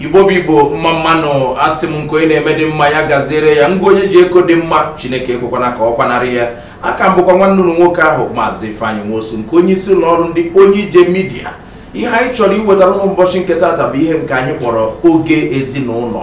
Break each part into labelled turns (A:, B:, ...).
A: igbo bụ igbo mma mmanụ asị m nke onye na-eme dị mma ya gaziere ya ngwa onye ji eko dị mma chineke ekwekwana ka ọ kwanarị ya a ka m bụkwa nwanne unu nwoke ahụ maazị ifeanyị nwosu nke onye isi ụlọ ọrụ ndị onye ije midia ihe anyị chọrọ iwetara unu n'ụbọchị nke taata bụ ihe nke anyị kpọrọ oge ezinụlọ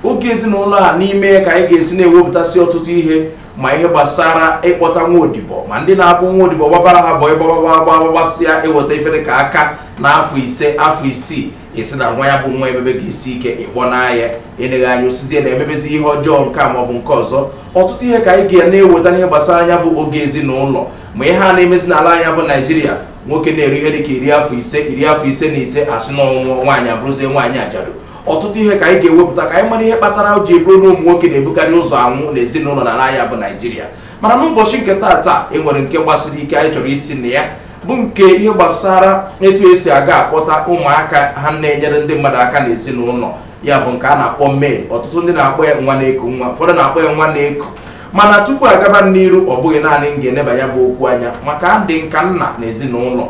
A: oge ezinụlọ a n'ime ya ka anyị ga-esi na-ewepụtasị ọtụtụ ihe ma ihe gbasara ịkpọta nwa odibo ma ndị na-abụ nwa odibo gbabara ha boy gbagba gbasịa eweta ife dị ka aka na afọ ise afọ isii asị na nwa ya bụ nwa emebego isi ike ịkpọ n'ahịa eneghe anya o sizie na emebezi ihe ọjọọ nke a maọbụ nke ọzọ ọtụtụ ihe ka anyị ga na-eweta n'ihe gbasara nya bụ oge ezinụlọ ma ihe a na-emezi n'ala nya bụ naijiria nwoke na-eru ihe dịka iri afọ ise iri afọ ise na ise asị na ọ nwụọ nwaanyị abụrụzie nwaanyị ajadu ọtụtụ ihe ka anyị ga-ewepụta ka anyị mara ihe kpatara ji bụrụ na ụmụ nwoke na-ebukarị ụzọ anwụ na ezinụlọ n'ala nya bụ naijiria mana n'ụbọchị nke taata e nwere nke gbasiri ike anyị chọrọ isi na ya bụ nke ihe gbasara etu esi aga akpọta ụmụaka ha na-enyere ndị mmadụ aka n'ezinụlọ ya bụ nke a na-akpọ maid ọtụtụ ndị na-akpọ ya nwa na-eku nwa ụfọdụ na-akpọ ya nwa na-eku mana tupu agaba n'iru ọ bụghị naanị m ga-eneba ya bụ okwu anya maka adị m ka nna na ezinụlọ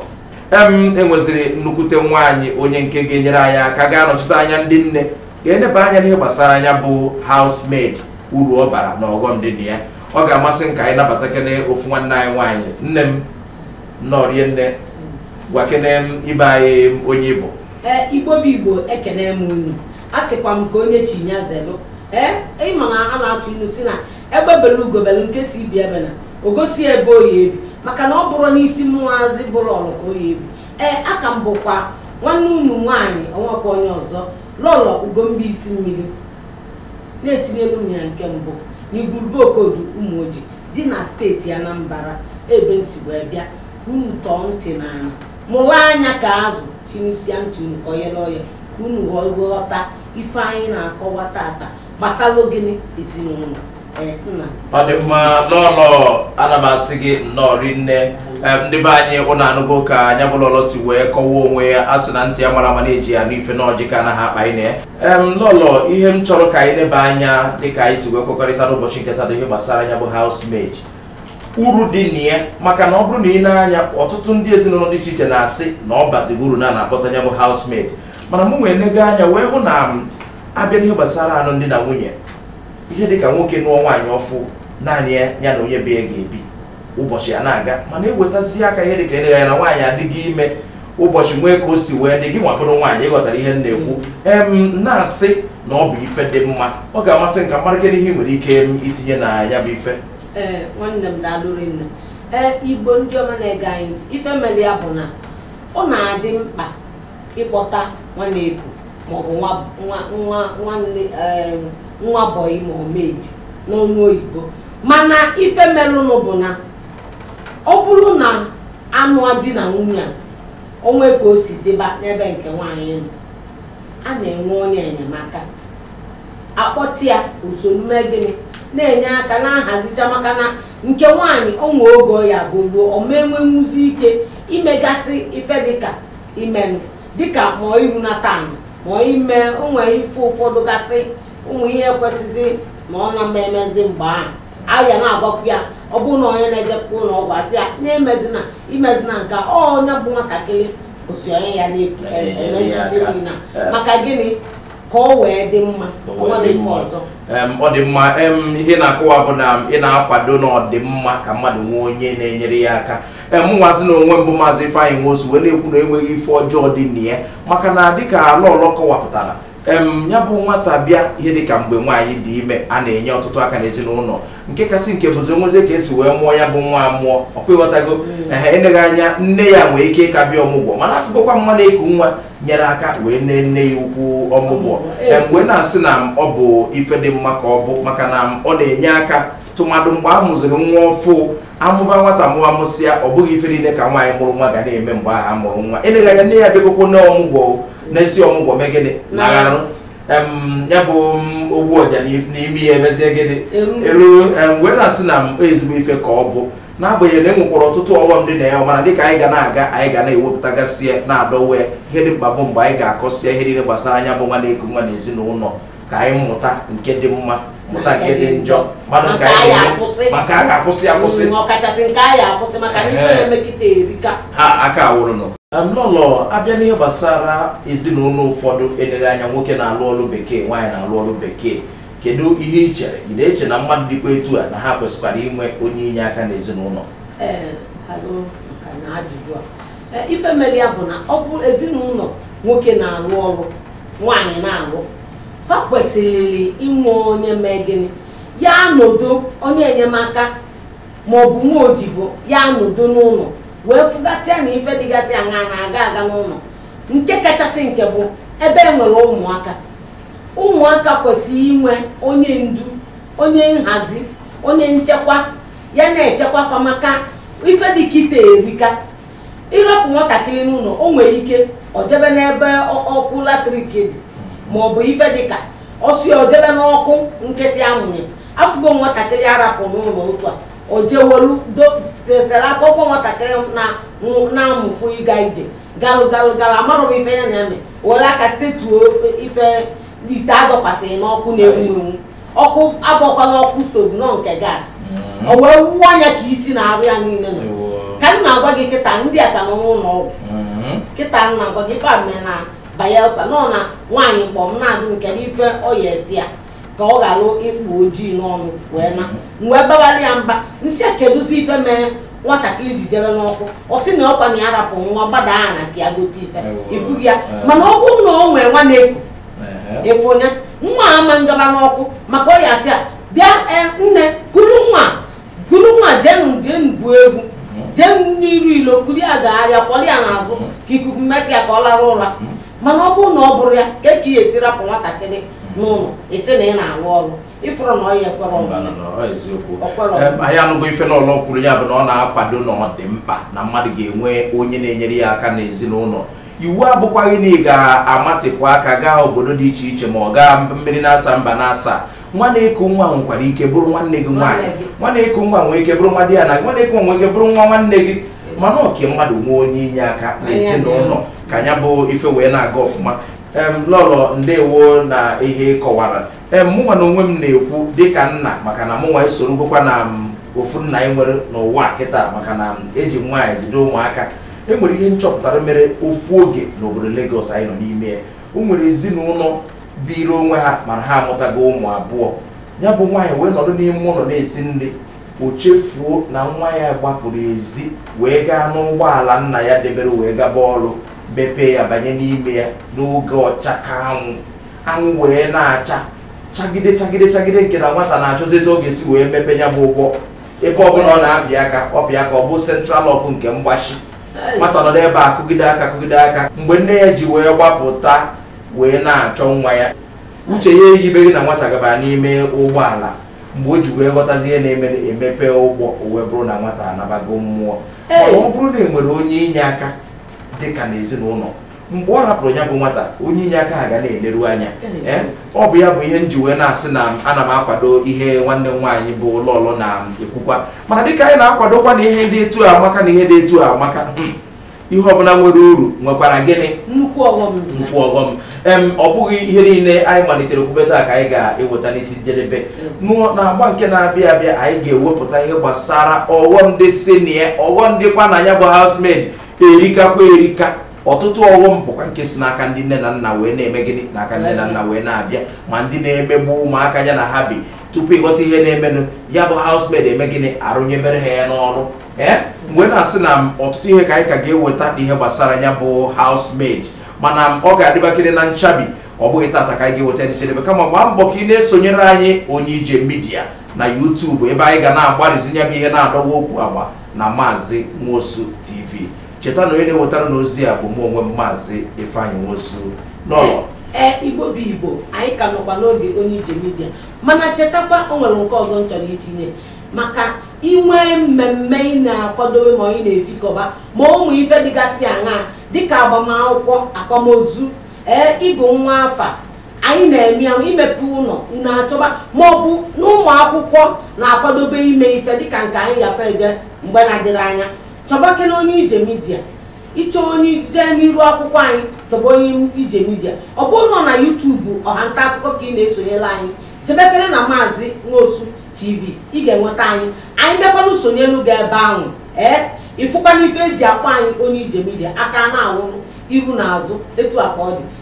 A: em enweziri nnukwute nwaanyị onye nke ga-enyere anyị aka ga-anọchite anya ndị nne ga-eneba anya n'ihe gbasara nya bụ housemaid uru ọ bara na ọghọm dị na ya ọ ga-amasị m ka anyị nabatakene ofu nwanne anyị nwaanyị nne m nnọọ rinne gwakene ndị be anyị onye ị bụ ee igbo bụ igbo ekene m unu a sịkwa m nke onye chi nya zelụ ee ị ma na a na-atụ ilu sị na egbe belu ugo belu nke sị ibe ya ebena o gosi ya ebe ọ ya-ebe maka na ọ bụrọ n'isi mụwazị bụ lọlọ ka ọ ya-ebe ee a ka m bụkwa nwanne unu nwaanyị o nwekwa onye ọzọ lọlọ ugomba isi mmiri na-etinyelu m ya nke mbụ na igwurube okodu ụmụojị dị na steeti Anambra ebe m si wee bịa ka unu tọọ ntị n'ana mụlụ anya ka azụ chinisia ntị unu ka oyere oye ka unu ghọta ife anyị na-akọwa tata gbasalụ gịnị ezinụlọ eh, nna ọ dị mma lọlọ ana m asị gị nnọọ rinne ndị be anyị unu anụgo ka nya bụ lọlọ si wee kọwa onwe ya a sị na ntị ya mara ama na-eji ya anụ ife na ọjị ka anaghị akpa ine em lọlọ ihe m chọrọ ka anyị neba anya dịka anyị si wee kwekọrịta n'ụbọchị nke taa bụ ihe gbasara nya bụ housemaid uru dị na ya maka na ọ bụrụ na i nee anya ọtụtụ ndị ezinụlọ dị iche iche na-asị na ọ bazighị uru na a na-akpọta nya bụ housemaid mana mụ nwa enego anya wee hụ na ma a bịa n'ihe gbasara anụm di na nwunye ihe dịka nwoke nụọ nwaanyị ọfụụ naanị ya ya na onye be ya ga-ebi ụbọchị a na-aga mana ewetazi aka ihe dịka eleghị anya na nwaanyị adịrị ime ụbọchị nwee ka o si wee dị gịnwa bụrụ nwaanyị ịghọtara ihe m na-ekwu em na-asị na ọ bụ ife dị mma ọ ga-amasị m ka m mara kedu ihe ị nwere ike em, itinye na ya bụ ife ee nwanne m daalụ rinne ee Igbo ndị ọma na-ege anyị ntị ife mere ya bụ na ọ na-adị mkpa ịkpọta nwa na-eku maọbụ nwa nwa nwa nwanne ee, nwa bọyị ma ọ maid n'ọnụ oyibo mana ife merụnụ bụ na ọ bụrụ na a nụa di na nwunye a o nwee ka o si dịba n'ebe nke nwaanyị nọ a na-enwe onye enyemaka a kpọte ya o so na-eme gịnị na-enye aka na-ahazicha maka na nke nwaanyị o nwee oge ya bụ ruo ọ ma enwenwuzi ike imegasị ife dịka imenụ dịka ma irunata ma ime onwe ife ụfọdụ gasị ụmụ ihe kwesịzi ma ọ na-emezi mgbe ahụ a ya na-agwakwu ya ọ bụrụ na onye na-ejekwa ụlọ ọgwụ a sị ya emezina emezina nke a, ọ onye bụ nwatakịrị osi onye ya na-epu Ee, emezi ya ife aka. niile a. Ee. maka gịnị ka ọ wee dị mma O ọ wee nwere dị ife mma. ọzọ Em, ọ dị mma em, ihe ị na-akọwa bụ na ị na-akwado na ọ dị mma ka mmadụ nwee onye na-enyere ya aka mụnwazi na onwe m bụ maazị Ifeanyị Nwosu wee na-ekwu na e nweghị ife ọjọọ dị na ya maka na dịka lọlọ kọwapụtara em ya bụ nwata bịa ihe dịka mgbe nwaanyị dị ime a na-enye ọtụtụ aka n'ezinụlọ nke kasị nke bụzi nwezie ka e si wee mụọ ya bụ nwa a mụọ ọkwa ịghọtago ehe eleghị anya nne ya nwee ike ịka bịa ọmụgwọ mana afụgokwa m nwa na-eku nwa nyere aka wee nee nne ya ukwu ọmụgwọ em wee na-asị na m ọ bụ ife dị mma ka ọ bụ maka na m ọ na-enye aka tụmadụ mgbe a mụziri nwa ọfụụ a mụba nwata ma a mụsịa ọ bụghị ife niile ka nwaanyị mụrụ nwa ga na-eme mgbe ahụ a mụrụ nwa eleghị anya nne ya bịagokwonụ ọmụgwọ na-esi ọmụgwọ mee gịnị Na- na-arụ em, ya bụ m, ogbu ọja n'if- n'imi ya emezie gịnị Eru. eru em, wee na-asị na m ezigbo ife ka ọ bụ n'agbanyeghị na e nwekwara ọtụtụ ọghọm dị na ya mana dịka anyị ga na-aga anyị ga na-ewepụtagasị ya na-adọwa ya ihe dị mkpa bụ mgbe anyị ga-akọsịa ihe niile gbasara ya bụ nwa na-eku nwa na ezinụlọ ka anyị mụta nke dị mma mụta nke dị njọ malụ nke anyị na-eme maka a ga-akwụsị akwụsị mm, ọkachasị nke anyị akwụsị maka ndị na-emekịta erika ha aka awụrụnụ lọlọ a bịa n'ihe gbasara ezinụlọ ụfọdụ eleghị anya nwoke na-alụ ọlụ bekee nwaanyị na-alụ ọlụ bekee kedu ihe ị chere ị na-eche na mmadụ dịkwa etu a na ha kwesịkwara inwe onye inye aka n'ezinụlọ eh, E, ife mere ya bụ na ọ bụ ezinụlọ nwoke na-alụ ọlụ nwaanyị na-alụ fa kwesịrị inwe onye mee gịnị ya-anọdo onye enyemaka ma ọ bụ nwa odibo ya-anọdo n'ụlọ wee fụgasịa na ife dịgasịa na-aga aga n'ụlọ nke kachasị nke bụ ebe e nwere ụmụaka ụmụaka kwesịrị inwe onye ndu onye nhazi onye nchekwa ya na-echekwa fa maka ife dịka ite erika ị rapụ nwatakịrị n'ụnọ o nwere ike o jebe n'ebe ọkụ latrik dị ma ọ bụ ife dịka ọsị o jebe n'ọkụ nkịtị a mụnye afụgo nwatakịrị a rapụ n'ụlọ otu a ojewolu sesere aka ọkwa nwatakịrị na-amụfụ ịga ije galụ galụ galụ amarọ ife ya na-eme were aka setuo ife ite a dọkwasịrị n'ọkụ na-enwu enwu ọkụ abụkwa ọkụ stove nọ nke gas o wee wuo anya ka isi na arụ ya niile nọ ka m na-agwa gị kịta ndị a ka nọ n'ụlọ ọgwụ kịta m na-agwa gị ife a mee na Bayelsa nọ na nwaanyị mkpọ m na-adụ nke n'ife ọya eti ya ka ọ ghara ịkpụ ojii n'ọnụ wee na m wee babara ya mba m sị ya kedụzi ife mee nwatakịrị ji jebe n'ọkụ ọ sị na ọkwa na ya rapụ nwa gbada aha na ka ya gote ife Ewo. ị fụ ya Ewo. mana ọ bụrụ na o nwee nwa na-eku efu onye nwa ama ndaba n'ọkụ maka ọ ya-asị ya bịa eh, nne kuru nwa kuru nwa jenu jenu gwuo egwu jenu n'iru ilo kuru ya gagharịa kwọrọ ya n'azụ ka ikuku metụ ya ka ọ lara ụra mana ọ bụrụ na ọ bụrụ ya kee ka ị ya-esi rapụ nwatakịrị n'ụlọ ị sị na ị na-arụ ọrụ ị fụrụ na ọ ya ekwere ọrụ anyị anụgo ife lọlọ kwuru ya bụ na ọ na-akwado na ọ dị mkpa na mmadụ ga-enwe onye na-enyere ya aka n'ezinụnọ iwu abụkwaghị na ị ga-amatịpụ aka gaa obodo dị iche iche ma ọ gaa mmiri n'asaa mba n'asaa nwa na-eku nwa nwekwara ike bụrụ nwanne gị nwaanyị nwa na-eku nwa nwee ike bụrụ nwa di ya na nwa na-eku nwa nwee ike bụrụ nwa nwanne gị mana ọ ka mmadụ nwee onye inye aka na ezinụnọ ka nya bụ ife wee na-aga ọfụma em lọlọ ndewo na ihe ị kọwara em mụnwa na onwe m na-ekwu dịka nna maka na mụnwa esorogokwa na ofu nna e nwere n'ụwa a kịta maka na eji m nwaanyị jide ụmụaka e nwere ihe m chọpụtara mere ofu oge n'obodo Lagos anyị nọ n'ime ya o nwere ezinụnọ biri onwe ha mana ha amụtago ụmụ abụọ nya bụ nwaanyị wee nọdụ n'ime ụnọ na-esi nri o chefuo na nwa ya gbapụrụ ezi wee gaa n'ụgbọala nna ya debere wee gaba ọrụ mepee ya banye n'ime ya n'oge ọcha ka anwụ anwụ wee na-acha chagide chagide chagide nke na nwata na-achọzi etu ọ ga-esi wee mepe nya bụ ụgbọ ebe ọ bụla ọ na-apị aka ọ pịa aka ọ bụ central lock nke mgbachi nwata nọ n'ebe a kụgide aka kụgide aka mgbe nne ya ji wee gbapụta wee na-achọ nwa ya uche ya eyibeghị na nwata gabara n'ime ụgbọala mgbe o ji wee ghọtazi ihe na-eme e mepee ụgbọ o wee bụrụ na nwata anabago mmụọ Hey! ọ bụrụ na e nwere onye inye aka dịka n'ezinụnọ mgbe ọ hapụrụ ya bụ nwata onye inye aka ha ga na-eleru anya ee ọ bụ ya bụ ihe m ji wee na-asị na ana m akwado ihe nwanne m nwaanyị bụ lọọlọ na-ekwukwa mana dịka anyị na-akwadokwa na ihe dị etu a amaka na ihe dị etu a amaka hmm, ihe ọbụla nwere uru nwekwara gịnị nnukwu ọghọm dị na nnukwu ọghọm em ọ bụghị ihe niile anyị malitere okwube taa ka anyị ga-eweta n'isi njedebe N'ụ- na agba nke na-abịa abịa anyị ga-ewepụta ihe gbasara ọghọm dị sinie ọghọm dịkwa na ya bụ housemaid erikakwa erika ọtụtụ ọghọm bụkwa nke si n'aka ndị nne na nna wee na-eme gịnị n'aka nne na nna wee na-abịa ma ndị na-emegbu ụmụaka ya na ha bi tupu ịghọta ihe na-emenụ ya bụ housemaid eme gịnị arụnyebere ha ya n'ọrụ ee m wee na-asị na ọtụtụ ihe ka anyị ka ga-eweta ihe gbasara ya bụ housemaid mana ọ ga-adịbakịrị na nchabi ọ bụghị tata ka anyị ga-eweta n'isi njedebe kama gbaa mbọ ka ị na-esonyere anyị onye ije midia na YouTube ebe anyị ga na-agbarịzinye bụ ihe na-adọwa okwu agba na maazị nwosu tv cheta na onye na-ewetara unu ozi a bụ mụ onwe m maazị ifeanyị nwosu n'ụlọ ee igbo bụ igbo anyị ka nọkwa n'oge onye ije midia mana chetakwa o nwere nke ọzọ m chọrọ itinye maka i nwee mmemme ị na-akwadobe ma ị na-efikọba ma ụmụ ife dịgasị aṅaa dịka agbamakwụkwọ akwamozu ee ịgụ nwa afa anyị na-eme ya imepe ụnọ unu achọba ma ọ bụ na ụmụ akwụkwọ na-akwadobe ime ife dịka nke anyị gafe eje mgbe na-adịghị anya chọbakene onye ije midia ị chọọ anyị jee n'iru akwụkwọ anyị chọba onye ije midia ọ bụrụ nọ na yutubu ọha nta akụkọ ka ị na-esonyere anyị chebekere na maazị nwosu tv ị ga-enweta anyị anyị bịakwana sonyelu gị ebe ahụ ee ịfụkwana ife e ji akpọ anyị onye ije midia aka na-awụrụ iru na azụ etu a ka ọ dị